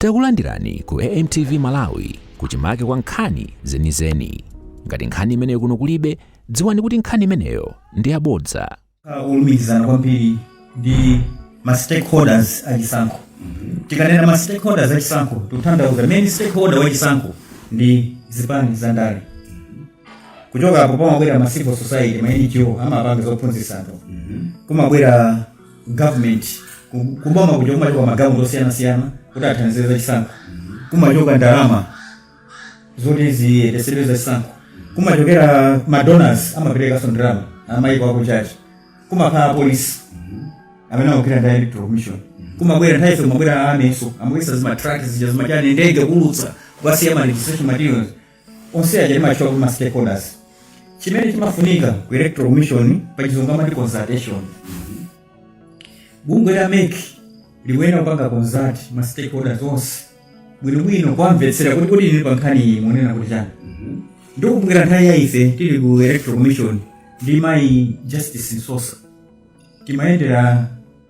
Takulandirani ku AMTV Malawi kuchimake kwa nkhani zenizeni. Ngati nkhani imeneyo kuno kulibe, dziwani kuti nkhani imeneyo ndi yabodza. kulumikizana kwambiri ndi ma stakeholders a chisankho tikanena ma stakeholders a chisankho tikutanthauza main stakeholder wa chisankho ndi zipani za ndale kuchoka apo pamabwera ma civil society ma ngo amapanga zophunzitsa anthu kumabwera government ku- kuboma kuja kumachoka magulu osiyanasiyana kuti athandize za chisankho kumachoka ndalama zoti ziyendetsedwe za chisankho kumachokera madonors amaperekanso ndalama amayiko akunja kumakhala apolisi amene amagwira ndi electoral commission kumabwera nthawi ina kumabwera amenenso amabweretsa zimatraki zija zimachani ndege kuulutsa kukasiya ma registration materials onse aja timatchula kuti ma stakeholders chimene chimafunika ku electoral commission pa chizungu amati consultation bungwe la mec likuyenera kupanga consult ma stakeholders onse bwinobwino kuwamvetsera kuti kodi inu pa nkhani iyi mukunena kuti chani ndikumbukira nthawi ya ife tili ku electoral commission ndi mayi justice msosa timayendera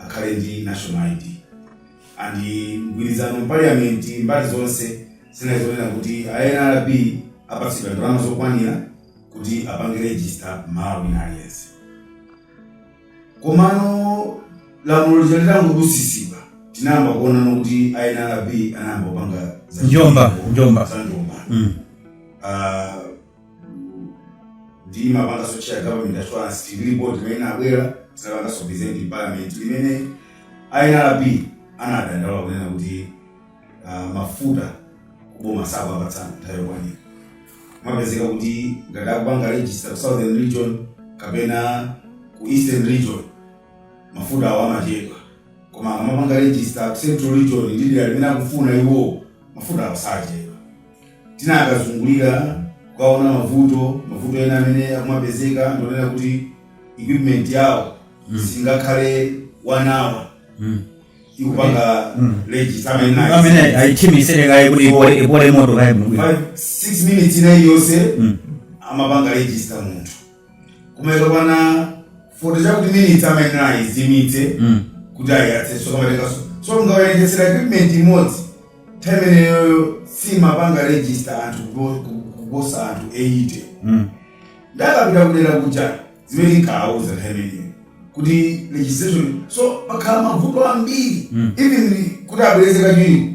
akhale ndi national ID and mgwirizano mu parliament mbali zonse zinali zonena kuti a nrb apatsidwe ndalama zokwanira kuti apange register mmalawi wina aliyense komano lamulo lija litangodutsitsidwa tinayamba kuonano kuti a nrb anayamba kupanga za njomba ndimapanganso chair government assurance lipoti limene labwera tinapanganso present in parliament limene a nrb anadandaula kunena kuti ah, mafuta kuboma sakuwapatsa mu nthawi yokwanira mumapezeka kuti ngati akupanga register ku southern region kapena ku eastern region mafuta awo amachedwa koma akamapanga register ku central region ndi dera limene akufuna iwo mafuta awo sachedwa Tinakazungulira kukaona mavuto, mavuto ena amene akumapezeka ndionena kuti equipment yawo singakhale one hour ikupanga register amayenera ayise. amene ayithimitsire kaye kuti ipole ipole moto kaye bwinobwino Five, six minutes ina iliyonse amapanga register munthu koma ikakwana Forty chakuti minitsi amayenera ayizimitse kuti ayiyatsenso kamatenganso so mukawerengetsera equipment imodzi nthawi imeneyoyo simapanga register anthu kuposa anthu 80 nde akapita kudera kuja zimene tinkawauza nthawi imeneyo kuti registration yo pakhala mavuto ambiri even kuti abwereze kachiwiri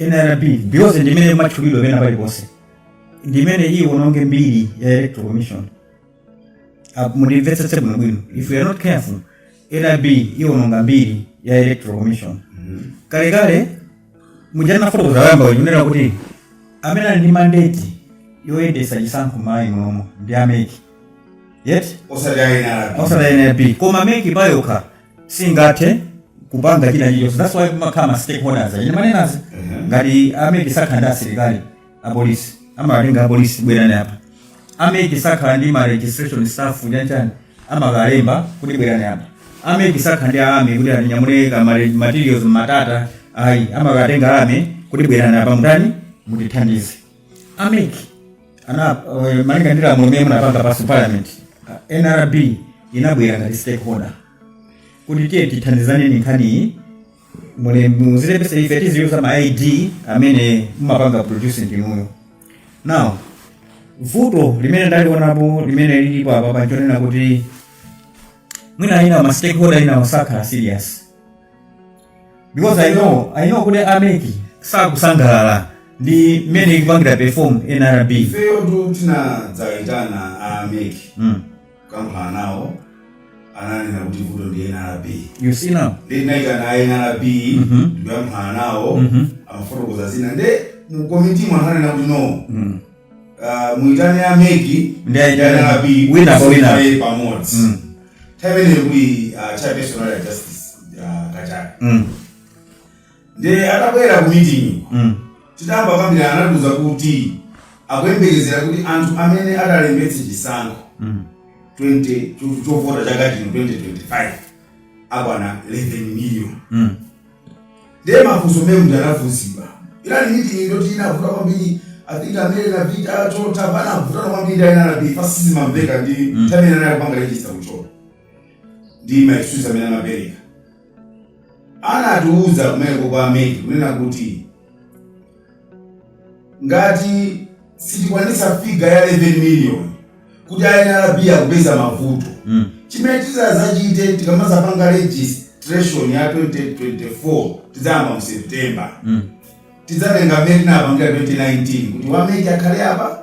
nrb because ndimene imatchulidwa pena paliponse ndimene iwononge mbiri ya electoral commission Apo mundimvetsetse bwinobwino if you are not careful nrb iwononga mbiri ya electoral commission kalekale muja nafotokoza poyamba kunena kuti amene ali ndi mandate yoyendesa chisankho m'malawi munomo ndi a mec yet osati a nr osati nrb koma mec payokha singathe kupanga china chilichonse that's why kumakhala ma stakeholders achina manenazi ngati a mec sakhala ndi asilikali apolisi amawatenga apolisi bwerani apa a mec sakhala ndi ma registration staff chanchani amakalemba kuti bwerani apa a mec sakhala ndi army kuti atinyamule ka ma- materials matata ayi amakatenga a army kuti bwerani apa mutani mutithandize a mec ana eh, malinga ndi lamulo limene munapanga pass parliament ah, nrb inabwera ngati stakeholder kuti tiye tithandizane ndi nkhaniyi muli muzilembesa ife tiziyuza ma id amene mumapanga produce ndinuyo now vuto limene ndalionapo limene lilipo apapa nchonena kuti mwina ina ma stakeholder ina osakhala serious because i know i know kuti a mec sakusangalala ndi mmene ikupangira perform nrb ifeyotu tinadzayitana a mec mm. kukambirana nawo ananena kuti vuto ndi nrb you see now ndi tinayitana a nrb Mhm. ndikukambirana nawo Mhm. amafotokoza zina nde mukomitimu ananena kuti no mm. Ah, muitane a mec Ndaitana. ndi a nrb Wina pa wina. ayi pamodzi Mm. nthawi imeneyo kuli ah, chairperson ali a justice ah, kachale Mm. nde atabwera ku meeting Mm. titayamba kukambirana anatiuza kuti akuyembekezera kuti anthu amene atalembetse chisankho Mm. 20 cho- chovota chaka chino 2025 akwana 11 million Mm. Ndiye mafunso mmenemuja anafunsidwa inali meeting yoti inavuta kwambiri I think amene na Vita chota panavutana kwambiri ndi a nrb chifukwa sizimamveka ndi anthu amene anali kupanga register kuchota ndi ma excuse amene amapereka anatiuza kumeneko kwa a mec kunena kuti Ngati sitikwanitsa figure ya 11 million kuti a nrb akupeza mavuto, chimene titazachite tikamazapanga registration ya 2024 tidzayamba mu September, tidzatenga mmene tinapangira 2019 kuti wa mec akhale apa,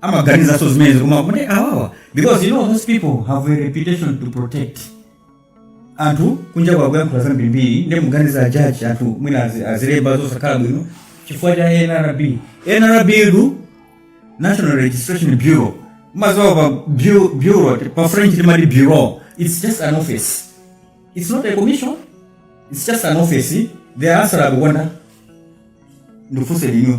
amaganizanso zimenezo koma kuti awawa because you know those people have a reputation to protect anthu kunja kwa akuyankhula zambirimbiri ndi muganiza a judge anthu mwina azi- azilemba zosakhala bwino chifukwa cha nrb nrb ndi national registration bureau mumadziwa pa bu- bureau pa french timati bureau it's just an office it's not a commission it's just an office the answer akukonda ndikufunseni inu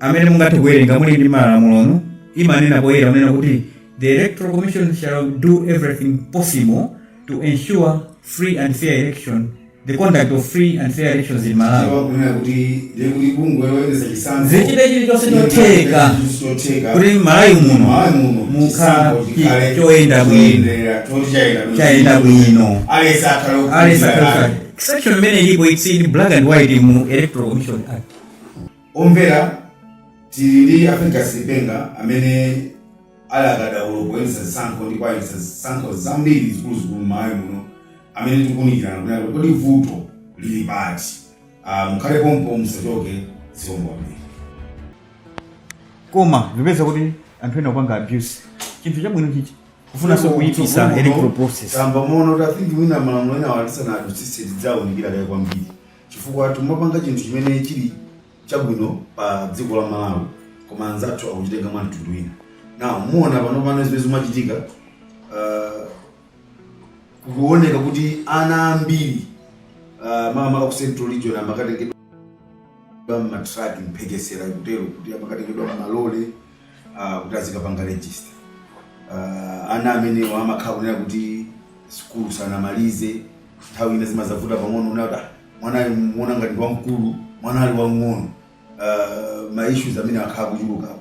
amene mungathe kuwerenga muli ndi malamulo imanena poyera kunena kuti the electoral commission shall do everything possible to ensure free and fair election the conduct of free and fair elections in malawi Sawa kunena kuti ndiye kuti bungwe loyendetsa chisankho zichite chilichonse chotheka chotheka kuti malawi muno Malawi muno mukhala chisankho chi- chikhale choyenda bwino choyendera, choti chayenda bwino. Chayenda bwino. aliyense akhale ali okhulupirira. sakhalitsa section imene ilipo it's in black and white mu electoral commission act Omvera, tili ndi a Fergus Lipenga amene ali katswiri poyendetsa zisankho ndipo ayendetsa zisankho zambiri zikuluzikulu m'Malawi muno amene tikuunikirana kunena kuti kodi vuto lili pati. Aaa mukhale pompo musachoke zikomo kwambiri. Koma ndikupeza kuti anthu ena akupanga abuse chinthu chabwino ichi kufunanso kuipisa electoral process. Tamva moona kuti I think mwina malamulo enawa tisanadutsitse tiziwaunikira kaye kwambiri Chifukwa tikumapanga chinthu chimene chili chabwino pa dziko la Malawi koma anzathu akuchitenga mwa mtundu wina. Now muona panopano zimene zikumachitika uh, kukuoneka kuti ana ambiri uh, makamaka ku central region amakatengedwa m'matraki mphekesera ikutero kuti amakatengedwa m'malole ah, kuti azikapanga register Ah, ana amenewo amakhala kunena kuti sukulu sanamalize nthawi ina zimazavuta pang'ono kunena kuti "Ah, mwanayo umuona ngati ndi wamkulu mwana ali wamng'ono Ah, ma issues amene akhala akuchulukapo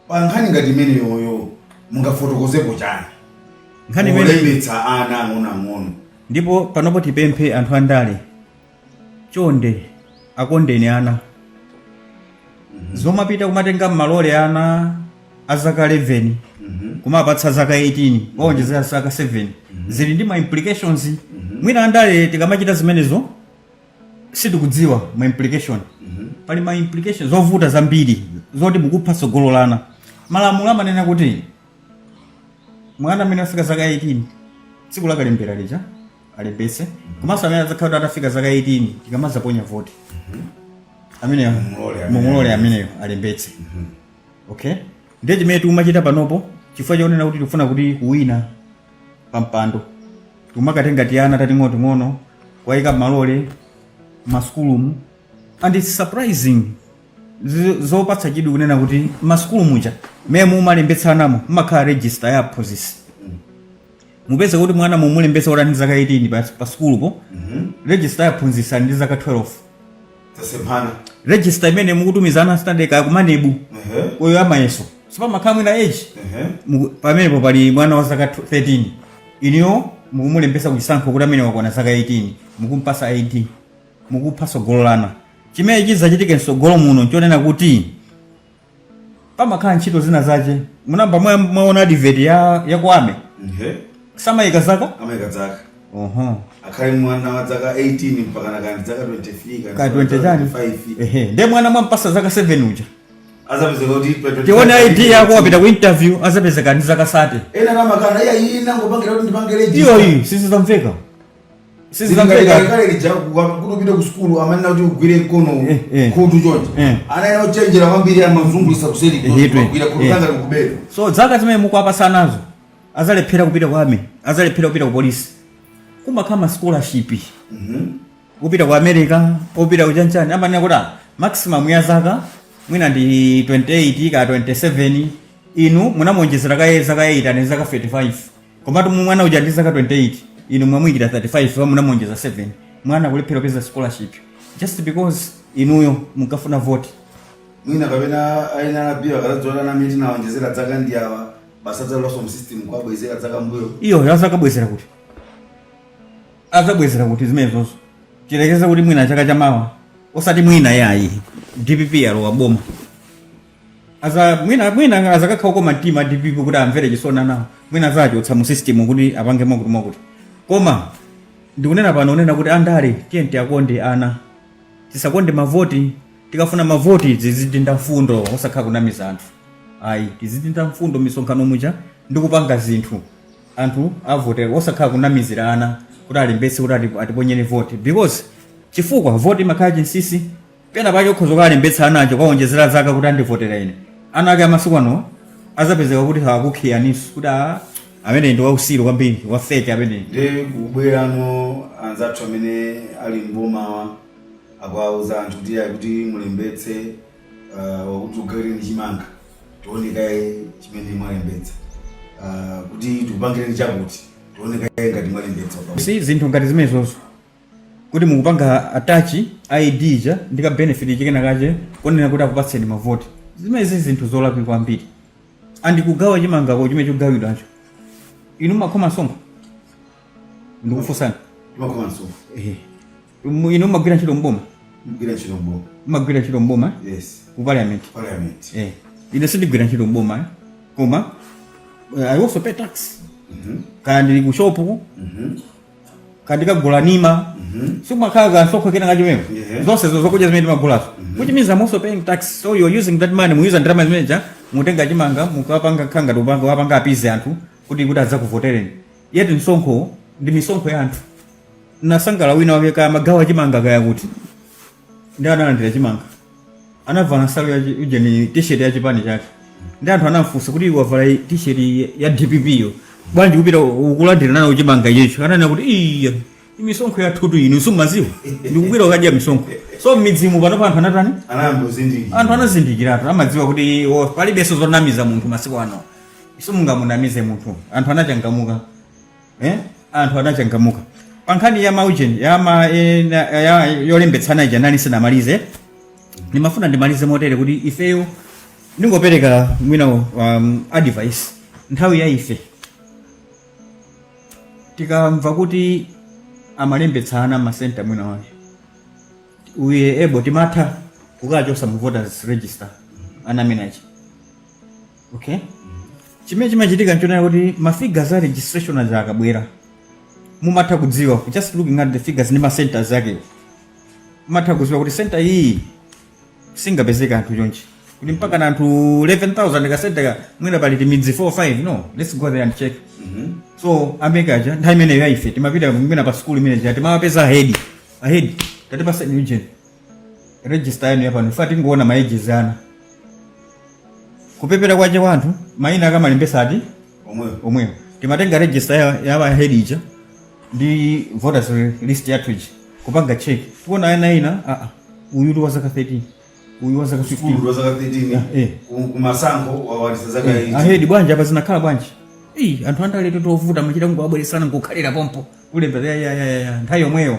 pa nkhani ngati imeneyoyo mungafotokozepo chani Nkhani imene- kulembetsa ana ang'onoang'ono ndipo panopo tipemphe anthu andale chonde akondeni ana zomapita kumatenga m'malole ana azaka 11 kumawapatsa zaka 18 kuwaonjezera zaka 7 zili ndi ma implications mwina andale tikamachita zimenezo sitikudziwa ma implication pali ma implication zovuta zambiri zoti mukupha tsogolo la ana malamulo amanena kuti mwana amene afika zaka 18 tsiku la kalembera lija alembetse komanso amene adzakhala kuti atafika zaka 18 tikamadzaponya voti ameneyo Mumulole amene- mumulole ameneyo alembetse okay ndiye chimene tikumachita panopo chifukwa chonena kuti tikufuna kuti kuwina pampando tikumakatenga tiana tating'onoting'ono kuwayika m'malole masukulumu and its surprising zi- zopatsa chidwi kunena kuti masukulu muja mmene mumalembetsanamo mumakhala register ya aphunzitsi mupeza kuti mwana mumulembetsa kuti ali ndi zaka 18 pa, pa sukulupo register ya aphunzitsi ali ndi zaka 12 tasemphana register imene mukutumiza ana standard kaya kumanebu Ehe. uyo amayeso sipamakhala mwina age Ehe. Muku- pamenepo pali mwana wa zaka 13 inuyo mukumulembetsa kuchisankho kuti amene wakwana zaka 18 mukumpasa id mukupha tsogolo la ana chimene chizachitike mtsogolo muno nchonena kuti pamakhala ntchito zina zake munamba mwa- mwaona advert ya ya ku army Ehe. samayika zaka amayika dzaka Oho. akhale mwana wa dzaka 18 mpaka nakani dzaka 23 ka 20 chani 25 ehe nde mwana mwampasa zaka 7 uja azapezeka kuti pa 25 tione id yako wapita ku interview azapezeka ali ndi zaka 30 ena n'kumakana iya iyi nangopangira kuti ndipangire iyo iyi sizizamveka Sizingaika. kale lija kuti upite ku sukulu amanena kuti ugwire mkono Eh, eh. khutu choncho Eh. ana ena ochenjera kwambiri amazungulitsa kuseri Eh, eh, kugwira khutu eh. kanga likubera so dzaka zimene mukuwapasa nazo azalephera kupita ku army azalephera kupita ku polisi kumakhala ma scholarship kupita ku america kupita ku chanichani amanena kuti ah, maximum ya zaka mwina ndi 28 ka 27 inu munamuonjezera kaye zaka 8 ali ndi zaka 35 komatu mwana uja ndi zaka 28 inu mwamuyikira 35 munamuonjeza 7 mwana akulephera kupeza scholarship just because inuyo munkafuna vote mwina kapena ana anabiwa akadzadziwa ana kuti tinaonjezera dzaka ndi awa basi adzalowanso mu system kuwabwezera dzaka mbuyo iyo azakabwezera kuti azabwezera kuti zimenezozo tiyerekeze kuti mwina chaka chamawa osati mwina yayi dpp yalowa boma aza mwina mwina azakakhala okoma mtima a dpp kuti amvere chisoni anawo mwina azachotsa mu system kuti apange mwakuti mwakuti koma ndikunena pano kunena kuti andale tiyeni tiyakonde ana tisakonde mavoti tikafuna mavoti tizidinda mfundo osakhala kunamiza anthu ayi tizidinda mfundo misonkhano muja ndi kupanga zinthu anthu avote osakhala kunamizira ana kuti alembetse kuti ati- atiponyere voti because chifukwa voti imakhala chinsisi Pena pake ukhoza kukalembetsa ana ache kuwawonjezera zaka kuti andivotera ine. Ana ake a masiku anowa adzapezeka kuti sakukhiyaninso kuti aa ameneyi ndi wausiru kwambiri, wa fake ameneyi. Nde kubwerano anzathu amene ali m'bomawa akuwauza anthu kuti ayi kuti mulembetse ah, wakuti tikugawireni chimanga tione kaye chimene mwalembetsa Ah, kuti tikupangireni chakuti tione kaye ngati mwalembetsa. You see zinthu ngati zimenezozo kuti mukupanga attach id ija ndi ka benefit ichi kena kache konena kuti akupatseni mavoti zimenezi zinthu zolakwika kwambiri and kugawa chimangako chimene chikugawidwacho inu mumakhoma msonkho ndikufunsani timakhoma msonkho Ehe. Mu- inu mumagwira ntchito mboma mugwira ntchito mboma mumagwira ntchito mboma eh? yes ku parliament parliament eh. ine sindigwira ntchito mboma eh? koma eh, i also pay tax kaya ndili ku shopu Mhm. ndikagula ndiwo Mhm. sikumakhala kamsonkho kena kache mmenemo Yeah. zonsezo zokudya zimene timagulazo which means i'm also paying tax so you're using that money muyuza ndalama zimeneja mutenga chimanga mukapanga mukapanga kuwapanga appease anthu kuti kuti adzakuvotereni yet msonkho ndi misonkho ya anthu nasangala wina wake kaya magawa chimanga kaya kuti ndi analandira chimanga anavala nsalu ya ujeni t-shirt ya chipani chake ndi anthu anamfunsa kuti wavala i- t-shirt ya- ya dpp yo bwanji kupita kukalandira nayo chimanga iyecho ananena kuti iya misonkho yathutu inu sumaziwa ndikubwera kukadya misonkho so mmidzimu panopa anthu anatani anangozindikira anthu anazindikiratu amadziwa kuti o, palibenso zonamiza munthu masiku ano simungamunamize munthu anthu anachangamuka eh? anthu anachangamuka pa nkhani ya maujeni ya ma, eh, na- ya- yolembetsa ana ija ndinali sindinamalize ndimafuna ndimalize motere kuti ifeyo ndingopereka mwina um, advice nthawi ya ife tikamva kuti amalembetsa ana m'masenta mwina mwake we were able timatha kukachotsa mu voters register ana amene aja okay chimene chimachitika nchonena kuti ma figures a registration aja akabwera mumatha kudziwa just looking at the figures ndi ma centers akewo mumatha kudziwa kuti center iyi singapezeka anthu chonchi kuti mpaka na anthu 11000 ka center ka mwina pali timidzi 4 5 no let's go there and check so a MEC aja nthawi imeneyo yaife timapita mwina pa skulu imene ja timawapeza ahedi ahedi tatipatseni ujeni register yanu yapano ife tingoona maejizi ana kupepela kwache wanthu mayina akamalembetsa ati omwewo omwewo timatenga register ya, ya ahedi ija ndi voters list yathu ija kupanga check tikuona ana ina ah, ah, uyu ndi wa zaka 13 uyu wa zaka 15 sukulu ndi wa zaka 13 Eh. ku- kumasankho wakwanitsa zaka Eh, 18 ahedi bwanji apa zinakhala bwanji Ii, anthu andaletu ndi ovuta amachita kungowabweretsa ana nkukhalira pompo kulembera ya- ya- ya- ya- ya, nthawi yomweyo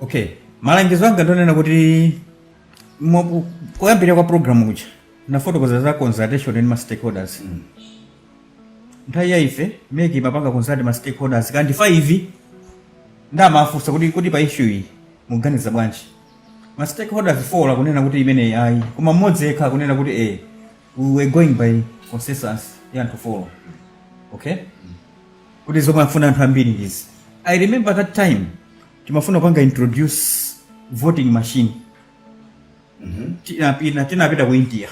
okay malangizo anga ndonena kuti mwa- kuyambira kwa programu kuja nafotokoza za consultation ndi ma stakeholders nthawi ya ife MEC imapanga consult ma stakeholders kaya ndi 5 ndamafunsa kuti kuti pa issue iyi muganiza bwanji ma stakeholders 4 akunena kuti imeneyi ayi koma mmodzi yekha akunena kuti eh we were going by consensus ya anthu 4 okay kuti zomwe afuna anthu ambiri ndizi i remember that time timafuna kupanga introduce voting machine tinapita tinapita ku india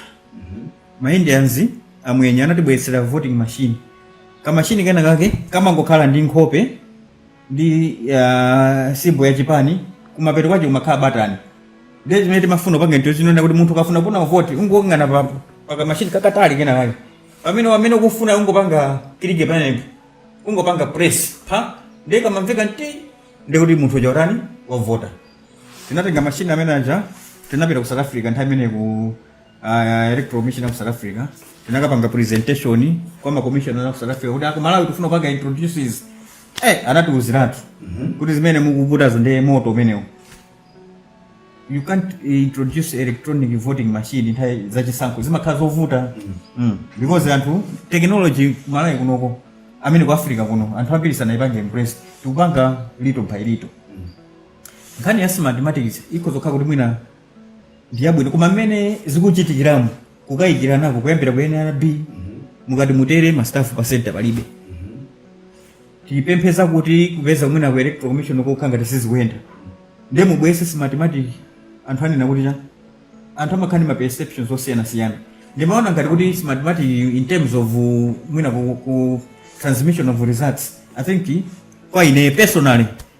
maindians amwenye anatibweretsera voting machine kamashini kena kake kamangokhala ndi nkhope ndi uh, symbol ya chipani kumapeto kwache kumakhala batani ndiye chimene timafuna kupanga introduce kuti munthu ukafuna kupanga vote ungoyang'ana pa pakamashini kakatali kena kake pamene pamene ukufuna ungopanga click pamenepo ungopanga press pa ndiye kamamveka nti ndiye kuti munthu uja watani wavota tinatenga mashini amene aja tinapita ku south africa nthawi imene ku uh, electoral commission ya ku south africa tinakapanga presentation kwa makomishona a ku south africa kuti aku malawi tifuna kupanga introduce izi eh anatiuziratu kuti zimene mukuputazo ndiye moto umenewo you can't eh, introduce electronic voting machine nthawi zachisankho zimakhala zovuta mm. because anthu technology malawi kunoko amene ku africa kuno anthu ambiri sanayipange embrace tikupanga little by little nkhani ya smartmatic ikhoza kukhala kuti mwina ndiyabwino koma mmene zikuchitikiramu kukayikirana kuyambira ku nrb mukati mutere ma staff pa center palibe tikupeza kuti kupeza kuti mwina ku electoral commission kukhala ngati sizikuyenda ndiye mubwese smartmatic anthu anena kuti chani anthu amakhala ndi ma perceptions osiyanasiyana ndimaona ngati kuti smartmatic in terms of uh, mwina ku, ku transmission of results i think kwa ine personally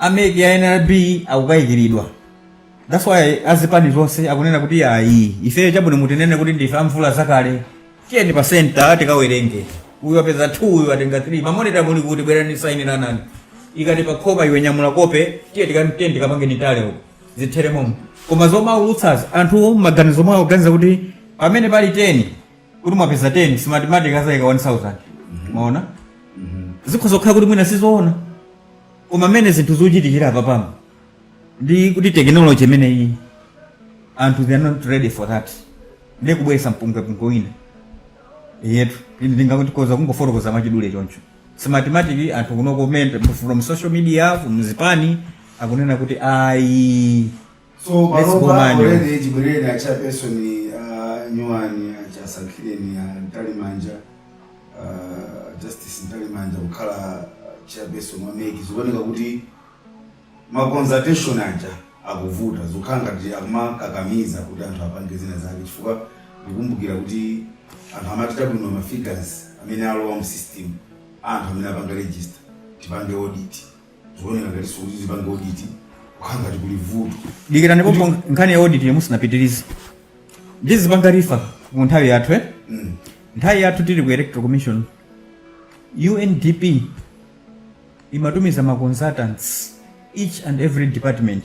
a mec ya nrb akukayikiridwa that's why azipani zonse akunena kuti ayi ifeyo chabwino mutinene kuti ndife amvula zakale tiyeni pa center tikawerenge uyu apeza 2 uyu atenga 3 mamonita muli kuti bwerani sainiranani ikani pakope iwe nyamula kope tiye tikamtiye ndikapange nitale uko zithere momo koma zomaulutsazi anthu maganizo mwawo akuganiza kuti pamene pali 10 kuti mwapeza 10 smartmatic azaika 1000 mwaona zikhoza kukhala kuti mwina sizoona koma mmene zinthu zachitikira apa pano ndi kuti technology imeneyi anthu they are not ready for that ndiye kubweresa mpungwepungwe wina ndiyetu ine ndingati ndikhoza kungofotokoza mwachidule choncho smartmatic anthu kuno comment from social media from zipani akunena kuti ayi so Let's go, panopa man. already chibwereni a chairperson uh, nyuwani achasankhire ni uh, mtalimanja uh, justice mtalimanja kukhala uh, chairperson wa mec zikuoneka kuti ma consultation aja akuvuta zikukhala ngati akumakakamiza kuti anthu apange zina zake chifukwa ndikumbukira kuti amati tawona bwino ma figures amene alowa mu system anthu amene apanga register tipange audit zikuoneka ngati sikuti tipange audit kukhala ngati kuli vuto dikira ndipo mpo nkhani ya audit musanapitirize ndizipanga refer mu nthawi yathu eh? nthawi yathu tili ku electoral commission undp imatumiza ma consultants each and every department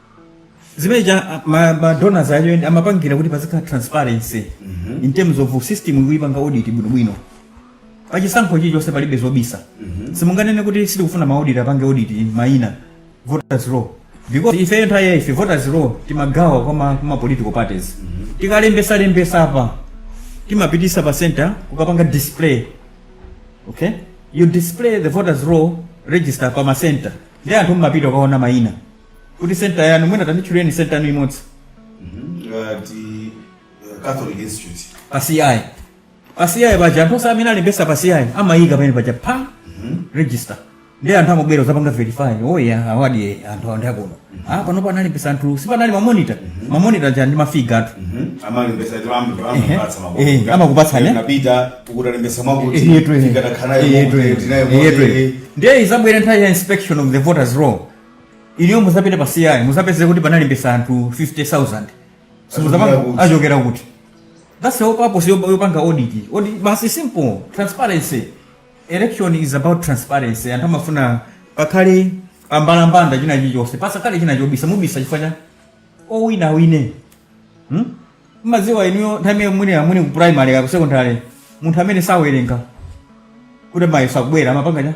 zimene cha ma, ma donors ayo ndi amapangira kuti pazikhala transparency in terms of system ikuyipanga audit bwinobwino pachisankho chilichonse palibe zobisa simunganene kuti sitikufuna ma audit apange audit mayina voters roll because ife nthawi yaife voters roll timagawa kwa ma, kwa ma political parties tikalembesa lembesa apa timapitisa pa center kukapanga display okay you display the voters roll register pa ma center ndi anthu amapita kukaona mayina kuti senta yanu mwina tanditchulireni senta yanu imodzi ngati uh, catholic institute pa ci pa ci paja anthu onse amene alembesa pa ci amayika pamene paja pa register ndi anthu amabwera kuzapanga verify oya awa ndi anthu awo ndiakuno ah panopo analembesa anthu sipanali mamonita mamonita aja ndi mafiga athu amalembesa Ehe. Ehe, amakupatsa, ne? napita uku talembesa Eyetu, ehe. Eyetu, ehe. Eyetu, ehe. ndiye izabwera nthawi ya inspection of the voters roll inuyo muzapita pa ci muzapeze kuti panalembesa anthu 50000 simuzapanga Achokera kuti? achokera kuti that's the whole purpose yo- yopanga audit audit basi simple transparency election is about transparency anthu amafuna pakhale pambalambanda china chilichonse pasakhale china chobisa mubisa chifukwa chani owina awine Hmm? mmadziwa inuyo nthawi imene muli amwene ku primary ka ku secondary munthu amene sawerenga kuti mayeso akubwera amapanga chani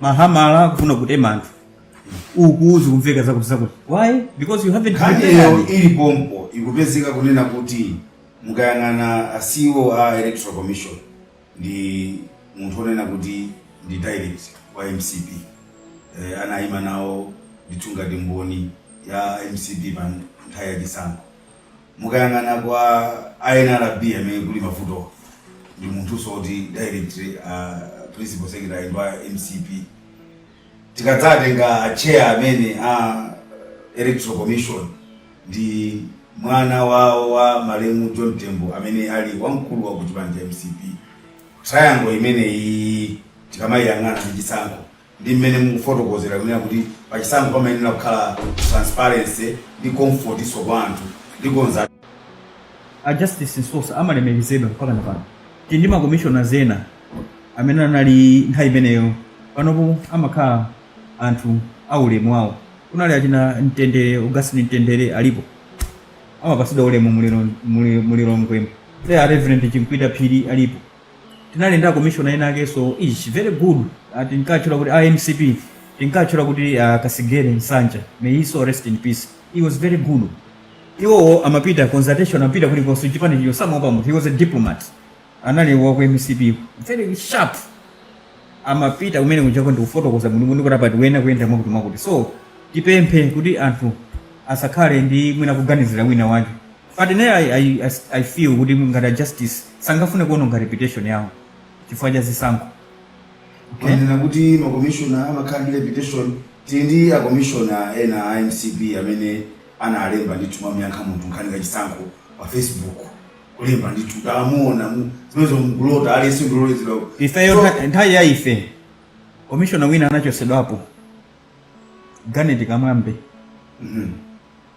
amayamba kufuna kutema anthu uku zikumveka zakuti zakuti why because you haven't nkhaniyo ili pompo ikupezeka kunena kuti mukayang'ana a ceo a electoral commission ndi munthu onena kuti ndi direct wa mcp eh, anayima nawo ndithu ngati mboni ya mcp pa nthawi ya chisankho mukayang'ana kwa a nrb amene kuli mavuto ndi munthuso oti direct uh, principal secretary ndi wa mcp tikadzatenga a chair amene a electoral commission ndi mwana wawo wa malemu john tembo amene ali wamkulu wa ku chipani cha mcp triangle imeneyi tikamayiyang'ana ndi chisankho ndi mmene mukufotokozera kunena kuti pachisankho pamayenera kukhala transparency ndi comfortinso kwa anthu ndi konza a justice msosa amalemekezedwa mpaka na pano tili ndi makomishonaz ena amene anali nthawi imeneyo panopo amakhala anthu aulemu wawo kunali achina mtendere augustine mtendere alipo amapasidwa ulemu mu lilo- mu li- mu lilongwemo there reverend chimkwita phiri alipo tinali ndi akomishona ena akeso ish very good Ah, tinkatchula kuti a mcp tinkatchula kuti ah, kasigere nsanja may his soul rest in peace he was very good iwowo amapita consultation amapita kulikonse chipani chicho samaopa munthu he was a diplomat anali waku mcp very sharp amapita kumene kunjako ndikufotokoza mulungu kuti apa tiyenera kuyenda mwakuti mwakuti so tipemphe kuti anthu asakhale ndi mwina kuganizira wina wake But ne I, I, I, I feel kuti ngati a justice sangafune kuononga reputation yawo chifukwa cha zisankho okay? Ndinena kuti makomishona amakhala ndi reputation tili ndi akomishona ena a mcp amene analemba ndithu kumamuyankha munthu nkhani ya chisankho pa facebook kulemba ndithu tamuona mu- zimenezo mkulota aliyense ndilolezedwa ifeyo ntha- nthawi ya ife komishona wina anachosedwapo ganeti kamwambe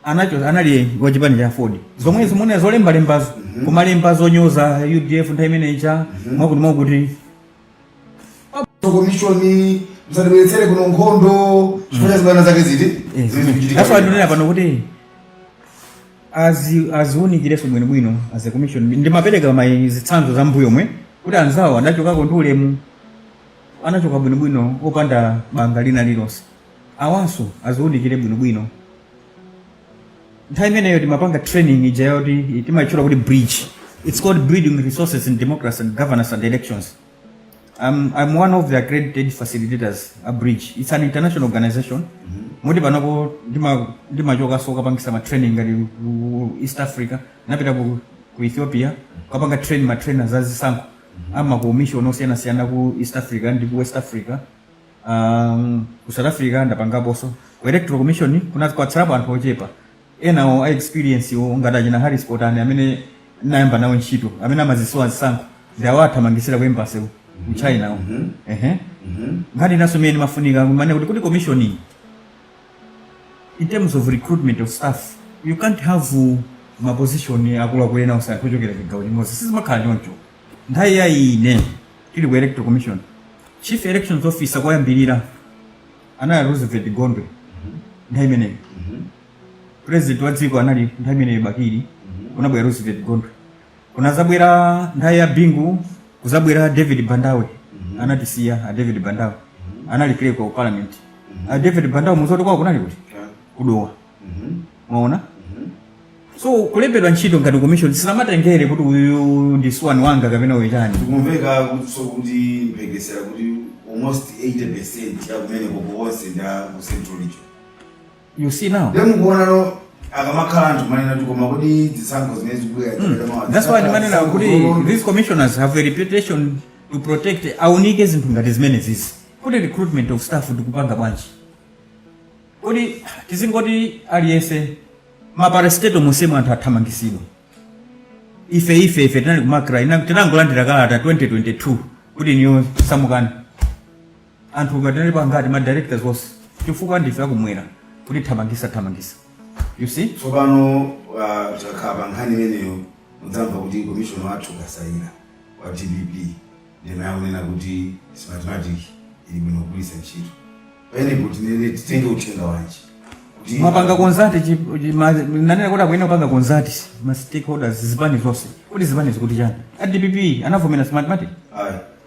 anacho anali wa chipani cha aford zomwe zimenezo zolembalembazo kumalemba zonyoza udf nthawi imene ija mwakuti mwakuti komishoni msatibweretsere kuno nkhondo chifukwa cha zibwana zake izi zimene zikuchitika that's why ndinena pano kuti azi- aziwunikireso bwinobwino as a commission ndimapereka ma zitsanzo za mbuyomu kuti anzawo adachokako ndi ulemu anachoka bwinobwino opanda banga lina lilonse awanso aziwunikire bwinobwino nthawi imeneyo timapanga training ija yoti timayitchula kuti bridge it's called building resources in democracy and governance and elections I'm, I'm one of the accredited facilitators a bridge it's an international organization moti panopo ndima- ndimachokanso kapangisa ma training ngati ku east africa napita ku, ku ethiopia kapanga train ma trainers azisankho amakomishoni osiyanasiyana ku east africa ndi ku west africa um, ku south africa ndapangaponso ku electoral commission kunatsalapo anthu ochepa enawo a experiencewo ngati achina harris potani amene nayamba nawo ntchito amene amaziziwa zisankho ndi anawathamangisira ku embassy ku ku chinako ehe nkhani inaso imene imafunika kuiwonanso kuti commission iyi in terms of recruitment of staff you can't have uh, maposition akuluakulu onse kusankha anthu ochokera chigawo chimodzi sizimakhala choncho nthawi ya ine tili ku electoral commission chief elections officer koyambirira anali roosevelt gondwe nthawi imeneyo president wa dziko anali nthawi imeneyo bakili kunabwera roosevelt gondwe kunadzabwera nthawi ya bingu kudzabwera david bandawe anatisiya a david bandawe anali clerk wa parliament a david bandawe mudzati kwawo kunali kuti ku dowa mwaona so kulembedwa ntchito ngati commission sinkatengera kuti uyu ndi tsibweni wanga kapena uyu chani zikumvekatso kuti mphekesera kuti almost 80 percent ya kumene koko wonse ndi a ku central region You see now. Then we go on akamakhala anthu kumanena kuti koma kuti zisankho zimene zikubwera hmm. that's why ndimanena kuti these commissioners have a reputation to protect aunike zinthu ngati zimenezizi kuti recruitment of staff tikupanga bwanji kuti tizingoti aliyense ma parastatal monsemu anthu athamangitsidwa ife ife ife tinali ku macra tinangolandira kalata 2022 kuti inuyo samukani anthu tinalipo angati ma directors onse chifukwa ndife akumwera kutithamangitsa thamangitsa you see tsopano uh, tikakhala pa nkhani imeneyo mudzamva kuti komishona wathu kasaila wa dpp ndi amene akunena kuti smartmatic ili bwino kugwiritsa ntchito pamenepo tinene titenge uthenga wanji kuti mwapanga consult chi- chi- ma- ndanena kuti akuyenera kupanga consult ma stakeholders zipani zonse kuti zipani zikuti chani a dpp anavomera smartmatic ayi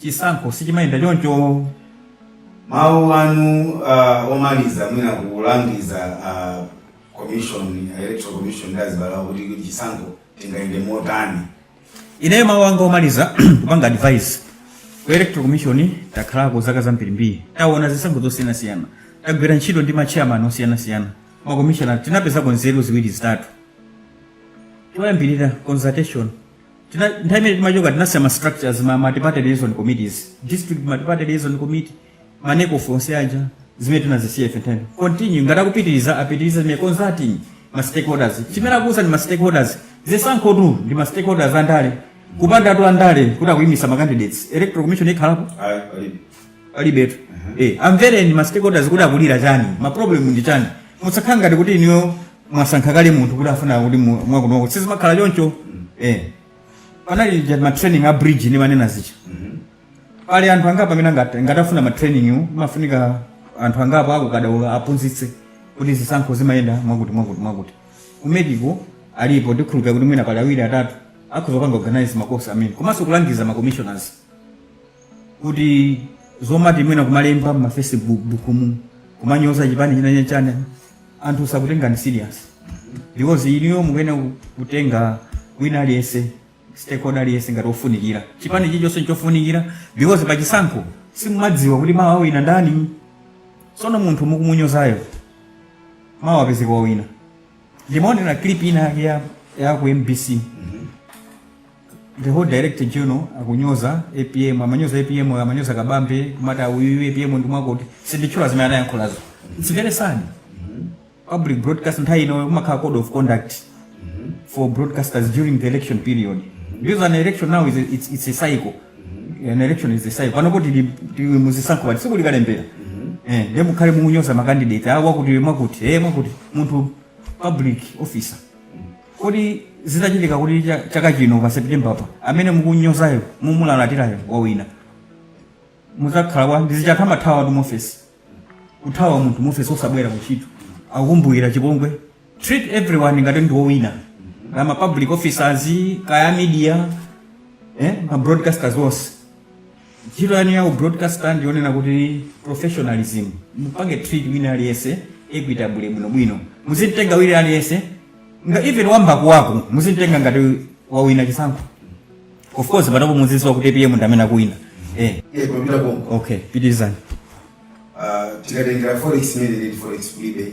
chisankho sichimayenda choncho mawu anu uh, omaliza mwina kulangiza uh, commission electoral commission ndi a zipani kuti chisankho chingayende motani ineyo mawu anga omaliza kupanga advice ku electoral commission takhalako zaka zambirimbiri taona zisankho zosiyanasiyana tagwira ntchito ndi machairman osiyanasiyana makomishona tinapezako nzeru ziwiri zitatu choyambirira consultation Tina- nthawi imene timachoka tinasiya ma structures ma multiparty liaison committees district multiparty liaison committee ma necof onse aja zimene tinazisiya ife nthawi continue ngati akupitiriza apitirize zimene consulting ma stakeholders eni ake a zisankho ndi ma stakeholders zisankhotu ndi ma stakeholders andale kupandatu andale kuti akuyimitsa ma candidates electoral commission ikhalapo Ayi, palibe. palibetu eh amvereni ma stakeholders kuti akulira chani ma problem ndi chani musakhale ngati kuti inuyo mwasankha kale munthu kuti tikufuna kuti mu- mwakunoko sizimakhala choncho eh panali aja ma training a bridge ndimanena zija pali anthu angapo amene angati- ngati afuna ma training wo, mafunika anthu angapo akhoza kudzuka aphunzitse kuti zisankho zimayenda mwakuti mwakuti mwakuti ku mec ko alipo ndikhulupirira kuti mwina pali awiri atatu akhoza kupanga organize makosi amenewo komanso kulangiza ma commissioners kuti zomati mwina kumalemba ma facebook bukumo kumanyoza chipani chinachake chani anthu sakutengani serious because inuyo mukuyenera ku- kutenga wina aliyense stakeholder aliyense ngati ofunikira chipani chilichonse nchofunikira because pachisankho simumadziwa kuti mawa awina ndani tsono munthu mukumunyozayo mawa apezeka wawina ndimaonera clip ina yake ya, ya ku mbc the whole director general akunyoza apm amanyoza apm amanyoza kabambe kumati auyu apm ndimwakuti sinditchula, zimene anayankhulazo its very sad public broadcast nthawi ino kumakhala code of conduct for broadcasters during the election period because an election now is a, it's, it's a cycle an election is a cycle pano poti ndi- ndi muzisankho bati si kuli kalembera eh ndiye mukhale mukunyoza makandidate awa kuti mwakuti eh mwakuti munthu public officer? kodi zitachitika kuti cha- chaka chino pa september pa amene mukunyozayo mumulalatirayo wawina muzakhala wa ndizichatha muthawatu muofesi kuthawa munthu muofesi osabwera kuchito akukumbukira chipongwe treat everyone ngati ndi owina kaya ma public officers kaya media eh, ma broadcasters onse ntchito yanu ya broadcaster ndiyonena kuti professionalism mupange treat wina aliyense equitably bwinobwino muzitenga wina aliyense nga even wa mmbali kwako muzitenga ngati wawina chisankho of course panopo muziziwa kuti apm ndi amene akuwina eh, Eh, papita konko okay pitirizani Ah, tikatengera forex imene ndi forex kulibe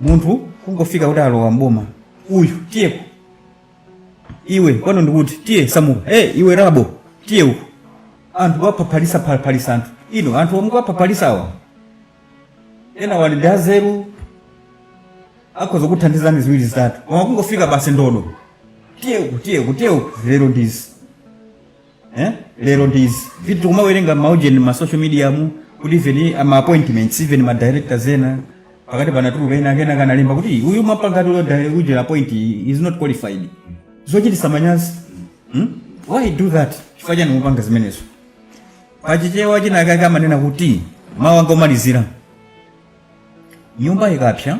munthu kungofika kuti alowa mboma uyu tiyeko iwe kwanu ndikuti tiye samuka e iwe rabo tiye uko anthu waphaphalisa phaphalisa anthu ino anthu omwe kwaphaphalisa awa ena wali ndi azeru akhoza kuthandizani ziwiri zitatu koma kungofika basi ndodo tiye uko tiye uko tiye uko zero ndizi eh? lero ndi izi zimene tikumawerenga maujeni ma social media mu kuti even ma appointments even ma directors ena pakati panatuluka ena akena kanalemba kuti uyu mapangati uyo di- ujela appoint is not qualified zochitisa manyazi hmm? why do that chifukwa chani mupanga zimenezo pachichewa chinakake amanena kuti mawu anga omalizira nyumba ikapsa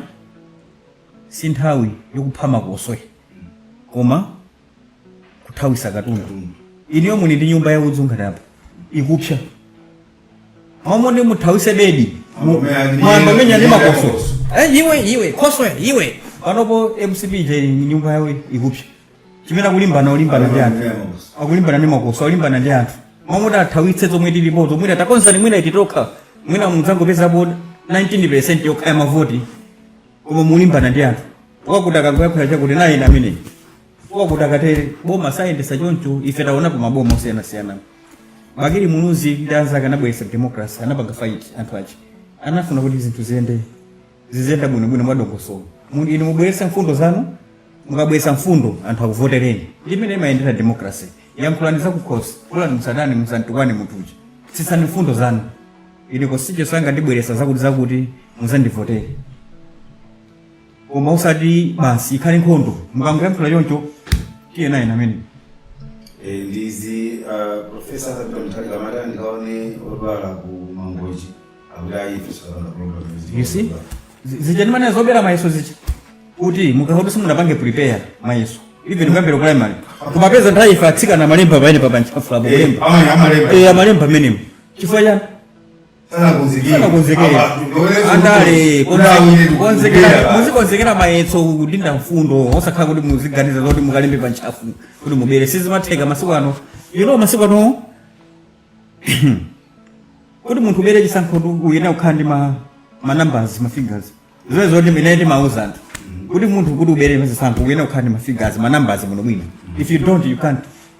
si nthawi yokupha makoswe koma kuthawisa katundu inuyo muli ndi nyumba ya udzu ngati apa ikupsa mmalo moti muthawise bedi mu- mwayamba kumenyana ndi makoswe Eh, iwe iwe khoswe iwe panopo mcp je nyumba yawo ikupsa chimene akulimbana olimbana ndi anthu akulimbana ndi makoswe akulimbana ndi anthu mmalo moti athawitse zomwe tilipo zomwe takonzazi mwina ititokha mwina mudzangopezapo 19 yokha ya mavoti koma mulimbana ndi anthu wakuti akangoyakhula chakuti naye na amene wakuti akatere boma sayendesa choncho ife taonapo maboma osiyanasiyana bakili muluzi ndi anzake anabweretsa democracy anapanga fight anthu aja anafuna kuti zinthu ziyende ziziyenda bwinobwino mwadongosolo Mu- inu mubweretsa mfundo zanu mukabweretsa mfundo anthu akuvotereni ndimene imayendera democracy yankhulani zakukhosi kwanu musadani musantukwane munthu uja fotokozani mfundo zanu ine kosicho sangandibweretse zakuti zakuti muzandivotere koma usati basi ikhale nkhondo mukangoyankhula choncho tiye naye namene Eh, ndizi ah, profesa Arthur Peter Mutharika amati andikaone odwala ku mangochi akuti ayife sitikapanga program you see Zi- zija ndimanena zobera mayeso zija kuti mukakhoza simunapange prepare mayeso even kuyambira ku primary kumapeza nthawi ife atsikana amalemba pamene pa pantchafupo kulemba amalemba Eh, amalemba amenemo chifukwa chani andale muzikonzekera mayeso kudinda mfundo osakhala kuti muziganiza zoti mukalembe pa ntchafu kuti mubere sizimatheka masiku ano ino masiku ano kuti munthu ubere chisankho uyenera kukhala ndi ma ma numbers ma figures zimene zoti ine ndimauza anthu kuti munthu kuti ubere chisankho uyenera kukhala ndi ma figures ma numbers muno mwina if you don't you can't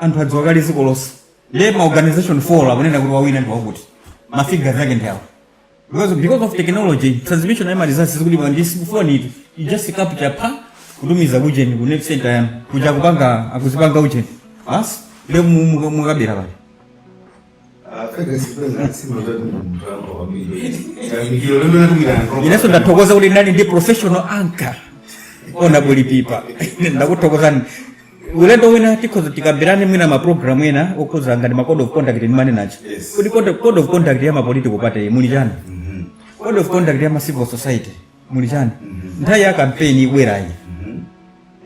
anthu adziwa kale dziko lonse kale ma organization four akunena kuti wawina ndi wakuti ma figures ake ndi awo because because of technology transmission ya ma results zikuti pa ndizi kufoni eti you just capture pa kutumiza kujeni ku nerve center yanu kuja kupanga akuzipanga ujeni basi ndiye mukabera kale inenso ndathokoza kuti ndinali ndi professional anchor Honourable Pipa ndakuthokozani ulendo wina tikhoza tikambirane mwina maprogramu ena okhudzana ngati ma code of conduct ndimanenacho Yes. kuti code code of conduct ya ma political party muli chani code of conduct ya ma civil society muli chani nthawi ya kampeni ibwerayi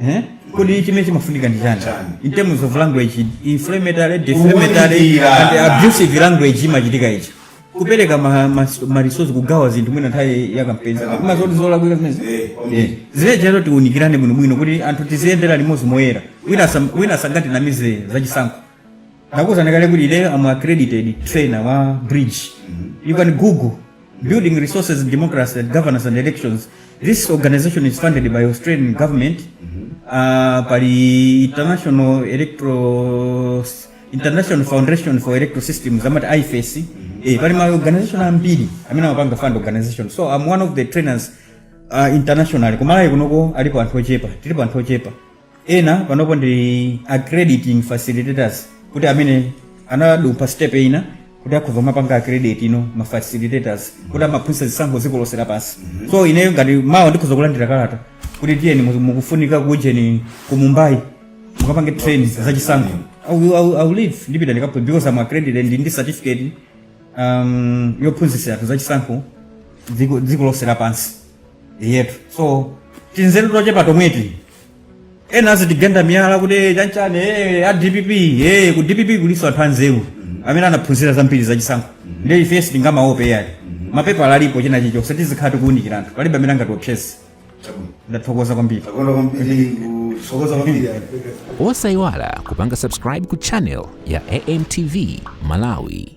Eh? kodi chimene chimafunika ndi chani Chani? in terms of language inflammatory defamatory Kuwunikira. and abusive language zimachitika izi kupereka ma- ma- ma resource kugawa zinthu mwina nthawi ya kampeni mwazoti zolakwika zimenezi Eh, okay. Eh, zijazo tiunikirane bwinobwino kuti anthu tiziyendera limodzi moyera wina asam- wina asangatinamize zachisankho ndakuuzani kale kuti ine am accredited trainer wa bridge you can google Building Resources, Democracy and Governance and Elections. This organization is funded by Australian government. Uh, pali International Electro International Foundation for Electro Systems amati IFES. Eh, pali ma organization ambiri amene amapanga fund organization. So I'm one of the trainers uh, internationally. Kumalawi kunoko alipo anthu ochepa, tilipo anthu ochepa. ena panopo ndi accrediting facilitators kuti amene anadumpha step ina kuti akhoza kumapanga accredit ena ma facilitators kuti azimaphunzitsa zisankho dziko lonse lapansi so ineyo ngati mawa ndikhoza kulandira kalata kuti tiyeni mu- mukufunika kujeni ku mumbai mukapange train za chisankho I will- I will- I will leave ndipita ndikapho- because am accredited ndi ndi certificate um, yophunzitsa anthu za chisankho dziko dziko lonse lapansi eetu so tinzeru tochepa tomweti ena azitigenda miyala kuti "Eh, chanchani eh, a dpp eh, ku dpp kulinso anthu anzeru amene anaphunzira zambiri zachisankho ndiye ife sitingamaope ayi mapepala alipo china chilichonse tizikhala tikuwunikira anthu palibe amene angatiopseze Chabwino. ndathokoza kwambiri Tathokoza kwambiri tathokoza kwambiri. osayiwala kupanga subscribe ku channel ya amtv malawi